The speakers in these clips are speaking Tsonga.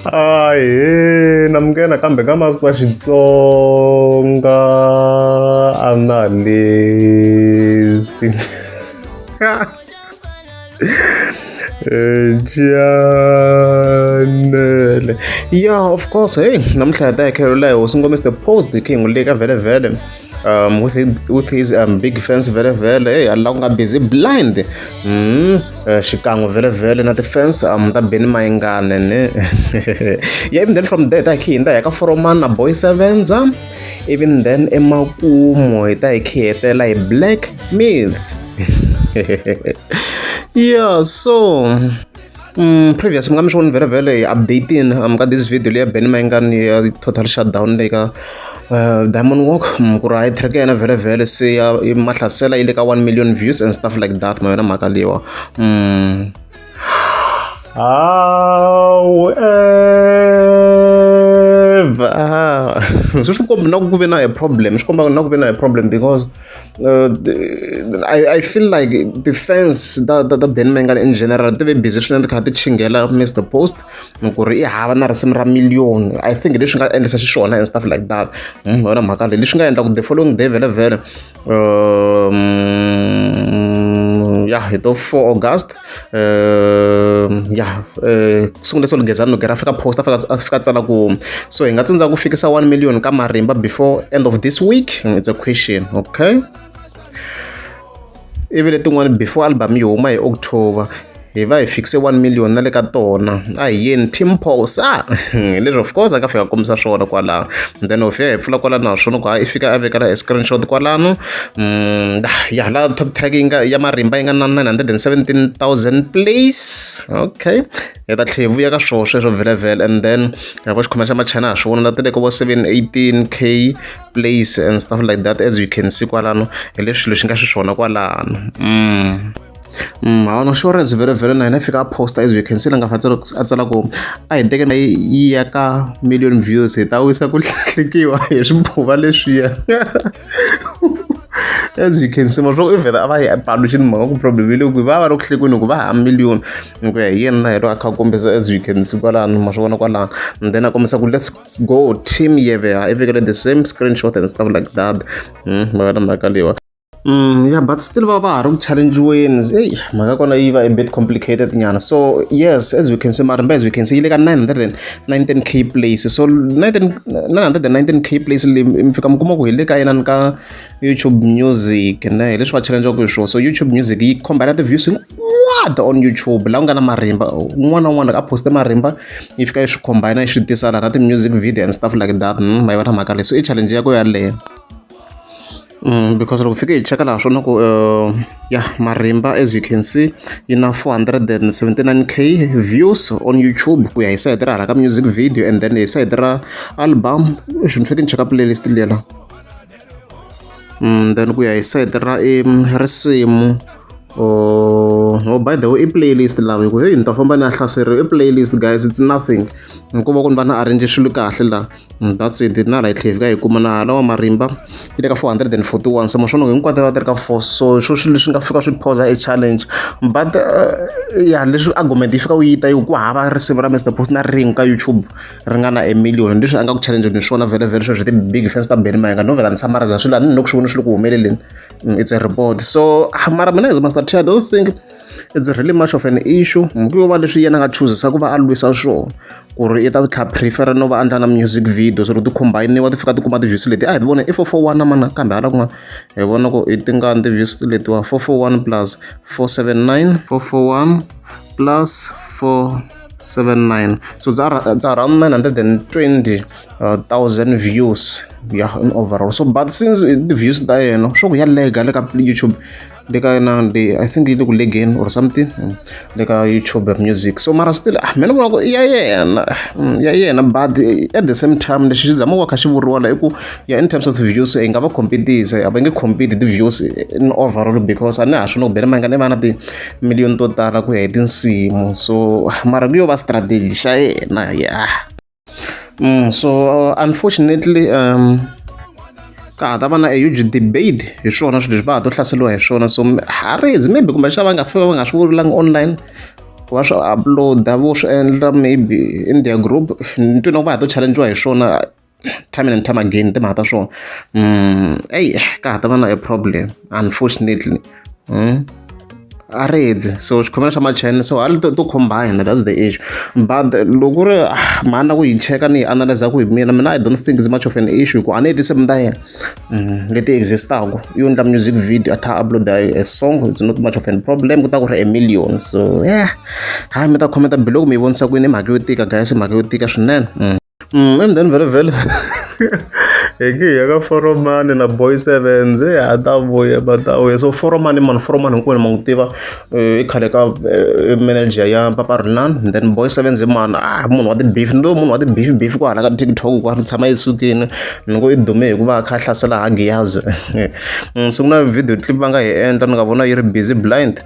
ahe na muke nakambe ka masiku ya xitsonga analyst janele ya of course heyi namuntlha hi ta hi khelula hi hosi ngomiste post king u le ka vhele vhele um, with, his, with his um, big fans vele vele hey alla ku nga busy blind mm, uh, xikan'we vele vele na ti-fans um, ta beni mayingane ne yeah, even then from there ta hi khe hinda hi ka foroman na boy sevenza even then emakumu hi ta hi khe hetela hi black myth yeah so Mm, previous mi nga mi swi voni vhele vhele hi updating um, ka this video leya benny mayingani ya total shutdown leyi ka uh, diamond walk um, ku ri hayi track ya yena vhele vhele se ya mahlasela yi le ka 1 million views and stuff like that ma yona mhaka leyiwa um. however swi swi kombi na ku ve na a problem swi komba na ku ve na a problem because Uh, I, I feel like the fans ta ta ta Ben Mengan in general ti ve busy swinene ti kha ti chingela Mr Post ku ri i hava na risimu ra million I think leswi nga endlisa xiswona and stuff like that hmm, yona mhaka leyi leswi nga endla ku the following day vele vele um, ya hi to 4 August ya ku sungule so lunghezani logera fika post a fika a fika tsala ku so hi nga tsindza ku fikisa 1 million ka marimba before end of this week it's a question okay ivi letin'wana before album yi huma hi october hi va hi fikise 1 million na le ka tona a hi yeni team pos a leswi of course a nga fika kombisa swona kwalano then of ya hi pfula kwalano naswona ku ha i fika a vekela hi screenshot kwalano ya ha la top track yi nga ya marimba yi nga na 917000 plays okay hi ta tlhe hi vuya ka swoho sweswo vhelavhela and then ya vo xikhoma xa machina ha swi vona la ti le ka vo 718 k plays and stuff like that as you can see kwalano hi leswi swilo swi nga xiswona kwalano mm. Mm, hawana insurance vhele vhele na hina fika a posta as you can see la nga fa a tsala ku a hi teke na yi ya ka million views hi ta wisa ku hlekiwa hi swibuva leswiya as you can see masvoko ivhela a va yi balo xini mhaka ku problem yi le kwihi va va ri ku hlekweni hikuva ha million hi ku ya hi yena hi ro a kha a kombisa as you can see kwalano ma swi vona kwalano and then a kombisa ku let's go team yevea i vekele the same screenshot and stuff like that hmm, mhaka na mhaka leyiwa Mm, yeah, but still va va ha ri ku challengiweni eyi mhaka kona yi va a bit complicated nyana so yes as we can see marimba as we can see yi le ka nine hundred and 19k place so 919k place leyi mi fika mi kuma ku hi le ka yenani ka youtube music ne hi leswi va challengeaku hi swona so youtube music yi combine ti-views hinkwato on youtube laha ku nga na marimba un'wana na un'wana a poste marimba yi fika yi swi combine yi swi tisa laha na ti-music video and stuff like that hmm, ma yi va na mhaka leyi so i challenge ya ko yaleyo Mm, because loko fike hi cheka laha swona ku uh, ya marimba as you can see yi na 479 k views on youtube ku ya hi sayiti ra hala ka music video and then hi sayiti ra album swi ni fike ni cheka playlist lela mm, then ku ya hi sayiti ra i risimu Oh, oh, by the way i playlist lawa hikuva heyi ni ta famba ni ya hlaseriwa i playlist guys it's nothing hikuva ku ni va ni arrange swilo kahle laha Mm, that's it na right tlhela fika hi kuma na hala wa marimba yi le ka 441 so maswona hinkwato va ti ri ka four so swo swilo swi nga fika swi phosa e challenge but uh, ya leswi argument yi fika u yi ta yi ku hava risimu ra mr post na ring ka youtube ri nga na e million leswi a nga ku challenge ni swona vele vele sweswi ti-big fans ta beni mayenga no vela ni samariza swilo a ni ni loko swi vona swi ri ku humeleleni mm, it's a report so ah, mara mina as master t i don't think It's really much of an issue mhaka yo va leswi yena a nga chuzisa ku va a lwisa swona ku ri i ta tlha prefer no va endla na music video so ri ti combine-iwa ti fika ti kuma ti-views leti a hi ti vona i four four one mana kambe hala kun'wana hi vona ku i tingani ti-views letiwa four four one plus four seven nine four four one plus four 79 so it's around 920 uh, thousand views yeah in overall so but since the views ta yena swo ku ya lega le ka youtube le ka na le i think yi le ku legen or something mm, le ka youtube music so mara still ah mina vona ku i ya yena mm, ya yena but at the same time lexi xi zama ku va kha xi vuriwa la i ku ya in terms of views hi nga va competisa a va nge compete ti-views in overall because a ni ha swi no ku bele mangane va na timiliyoni to tala ku ya hi tinsimu so ah, mara ku yo va strategy xa yena ya Mm, so uh, unfortunately um ka ha ta va na a huge debate hi swona swilo leswi va ha to hlaseriwa hi swona so harezi maybe kumbe xava va nga fika va nga swi vulanga online ku va swi uploada vo swi endla maybe in their group ni twina ku va ha to challengiwa hi swona time and time again timhaka ta swona um eyi ka ha ta va na a problem unfortunately a ri dyi so xikhongelo xa machende so hali to to combine that's the issue but loko ku ri ah, mhani na ku yi cheka ni yi analyza ku hi mina mina i don't think is much of an issue ku a ni hetise mina ta yena Mm, leti existaku yo endla music video a tha upload a song it's not much of an problem ku ta ku ri a million so yeah hayi mi ta khometa biloko mi yi vonisa kwini i mhaka yo tika guys i mhaka yo tika swinene Mm. Mm, and then vele vele hi nge hi ya ka foromani na boy sevens hi ha ta vuya va ta vuya so foromani mani foromani hinkwenu ma n'wi tiva eh, i khale ka eh, manager ya papa rinan then boy sevens i mani ah munhu wa ti-beef ni lo munhu wa ti-beef beef ku hala ka tiktok ku ri tshama esukini ni ngo i dume hi ku va a kha a hlasela hagiyazi mm, so ku na video clip va nga hi endla ni nga vona yi ri busy blind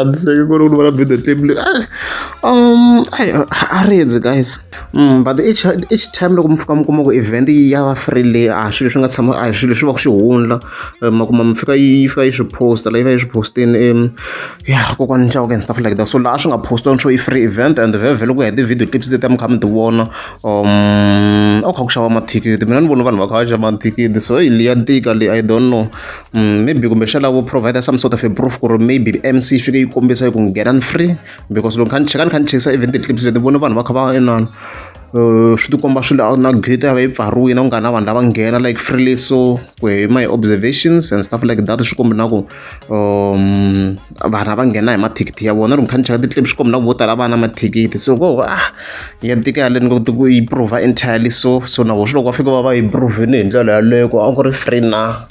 andiseke kuri uri vana bida table um ariyenze guys mm, but each, each time loko mi fika mi kuma ku event yi ya va free leyi a swilo swi nga tshama a swilo swi va ku swi hundla eh, ma kuma mi fika yi fika yi swi posta la yi va yi swi postini um ya kokwani nxawuka and stuff like that so laha swi nga postiwa ntsho i free event and vhevhe loko ya hi ti-video clips leti mi kha mi ti vona um a ku kha ku xava mathikithi mina ni vona vanhu va kha va xava mathikithi so yi liya tika leyi i don't know Mm, maybe kumbexana vo provide some sort of a proof ku ri maybe mc yi fike yi kombisa ku nghena ni free because loko ni cheka ni kha ni chekisa even ti-clips leti vona vanhu va kha va inana eh, swi tikomba swi na gate ya va yi pfariwile ku nga na vanhu lava nghena like freely so ku hi my observations and stuff like that swi kombi na ku um vanhu lava nghena hi mathikithi ya vona loko kha ni cheka ti-clip swi kombi na ku vo tala va na mathikithi so ko ah ya tika yaleni ku ku yi prova entirely so so na vo swi loko va fika va va yi provini hi ndlela yaleyo ku a ku ri free na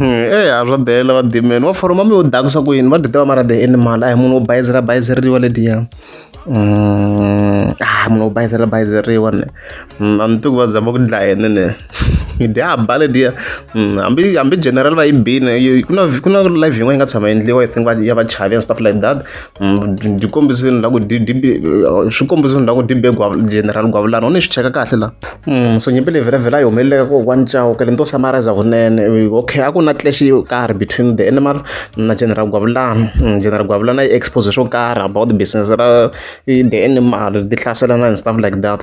eya swa bela va dimeni wa foroma mi yo dakusa ku yini va ti tiva mara the animal a hi munhu wo bayizela bayizeriwa lediya mm, a ah, munhu wo bayizela bayizeriwa ne mm, a ni tiku va zama ku dlayene ne yi dya ba lediya mm, hambi hambi general va yi bini ku na ku na live yin'wana yi nga tshama endliwa i think ya vachavi and stuff like that byi kombisini la ku swi kombisini la ku dibe general gwavulana u ni swi cheka kahle la hmm, so nyimpi leyi vhelavhela yi humeleleka ko one chao kele ni to summariza kunene okay a ku na clash yo karhi between the animal na general gwavulana hmm, general gwavulana yi expose swo karhi about business ra the animal ti hlaselana and stuff like that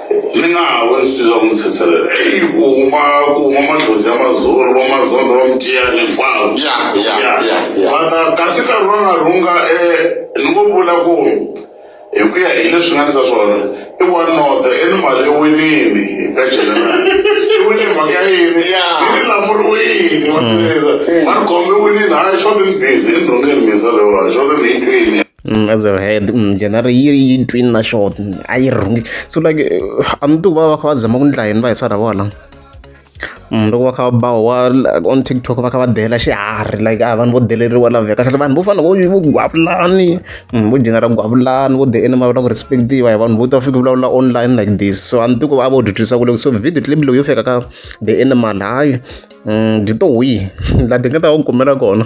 Ni nga ha va ni swi twisaka ni tshetshelela. Eyi ku huma ku huma madlodzi ya mazolo va mazondza va mitiya ni famba. Ya, ya, ya, ya. Va ta kasi nkarhi wa nga rhunga e ni ngo vula ku hi ku ya hi leswi nga ni sa swona i one not i ni mali i winini ka general i wine hi mhaka ya yini Ya. i ni lamuriwini wa tivisa va ni khome i winini hayi xo ni ni bini i ni rhungeni minsa loyiwani xo ni ni yi twini. Mm, as a head mm, general yi ri yi twini na short a yi rhungi so like eh, a ni ti va va kha va zama ku ndla yini va hi sara vola mm, loko va kha va bawa wa on tiktok va kha va dela xiharhi like a ah, vanhu vo deleriwa laveka kahle vanhu vo fana vo vo gwavulani vo general gwavulani vo the enema va ku respectiva hi vanhu vo ta fika vulavula online like this so a ni ti ku va vo dyudyisa ku loko so video clip loyi yo fika ka the animal hayi byi to wihi la ti nga ta va kumela kona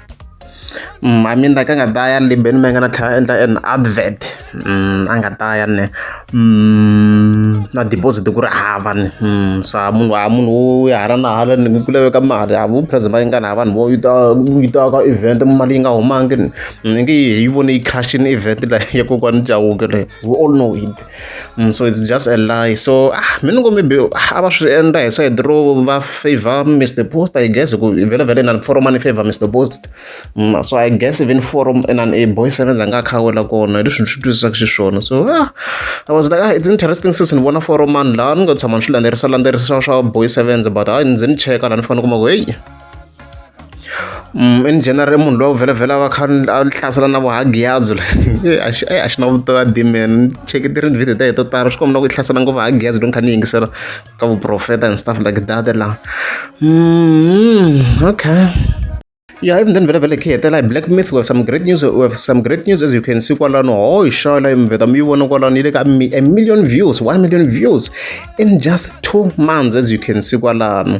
Mm, I mean like a nga ta ya limbeni me nga na tlhela endla an advert mm, a nga ta ya ne mm, na deposit ku ri hava ni mm, so munhu a munhu wo ya hala na hala ni ku laveka mali a vu present yi nga na vanhu vo yi ta yi ta ka event mali yi nga humangi ni mm, nge yi vone yi crashini event la ya kokwani chawuke le we all know it Mm, so it's just a lie so ah mina ngo maybe ah, a va swi endla hi side ro va favor mr post i guess ku vele vele na forum ani favor mr post mm, so i guess even forum and an a boy sevenza nga khawela kona hi leswi ni swi twisisaka xiswona so ah, i was like ah, it's interesting since ni vona forum ani laha ni nga tshama ni swi landzelerisa landzelerisa swa boy sevenza but hayi ndzi ni cheka laha ni fanele kuma ku heyi in general i munhu loyi a vhelavhela a va kha a hlasela na vuhagiyadzo la a xi a xi na vutomi a dimen cheke ti ri video ta hi to tala swi kombela ku yi hlasela ngopfu hagiyadzo loko ni kha ni yingisela ka vuprofeta and stuff like that la mm, okay Yeah, even then vele khe hetela hi black myth we have some great news we have some great news as you can see kwalano ho oh, ishala imveta mi vona kwalano ile ka a million views 1 million views in just 2 months as you can see kwalano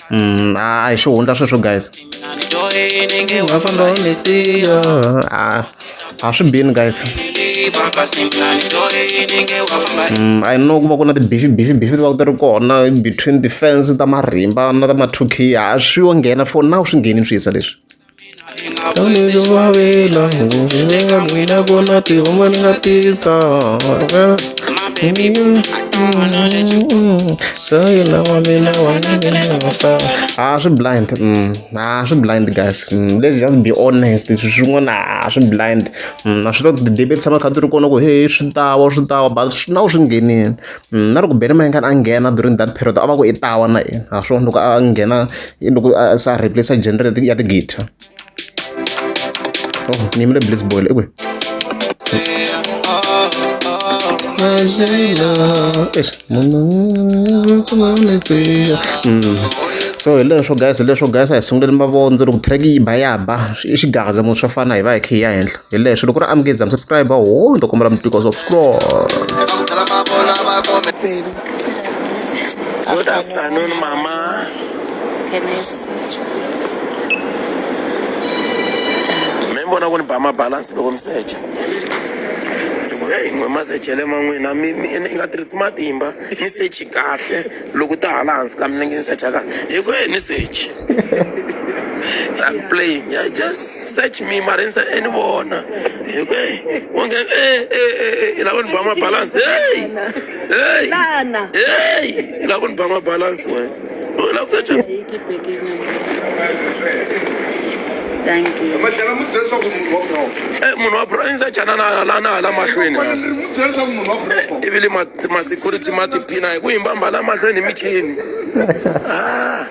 Mm, a hi swi hundza sweswo guys ah, a swi bini guys mm, i know ku va ku na tibifi bifi bifi ti va ku ti ri kona between defense ta marimba na ta mathukhiya a swi yo nghena for now swi ngheni swi yisa leswi Ah, swi blind mm. ah, swi blind guys mm. let's just be honest leswi swin'wana ah, swi blind mm. a swi ta ti-debate tshama kha ti ri kona ku heyi swi ta wa swi ta wa but swi na wu swi nghenini na loko bele mayengani a nghena during that period a va ku i tawa na yena ha swona loko a nghena loko se a replace genre ya tigita oh ni yimile bliss boyle ekwe so hi leswo guys hi leswo guys a hi sunguleni mavondzo loko track yi ba ya ba i xigaza munhu swo fana hi va hi khe hi ya henhla hi leswi loko ri amukedzani subscribe ho ni to kombela mitiko so scroll Good afternoon, Mama. Me vona ku ni ba mabalance loko mi secha hikuva eyi n'we masechele ma n'wina mi mi i nga tirhisi matimba ni sechi kahle loko ta hala hansi ka milenge ni secha kahle hikuva ni sechi I'm playing. I just search me marenza and vona. Okay. Wonge eh eh eh ila kuni bama balance. Hey. Hey. Lana. Hey. Ila kuni bama balance we. Ila kusearch. Thank you. Madala mu dzela ku munhu wa pro. Eh munhu wa pro inza chana na la na la mahlweni. Ku mu dzela ku munhu wa pro. Ivile ma ma security ma tipina hi ku yimba mbala mahlweni michini. Ah.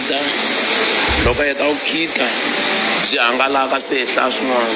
khida loko a heta ku khida byi hangalaka se hi hlaya swin'wana.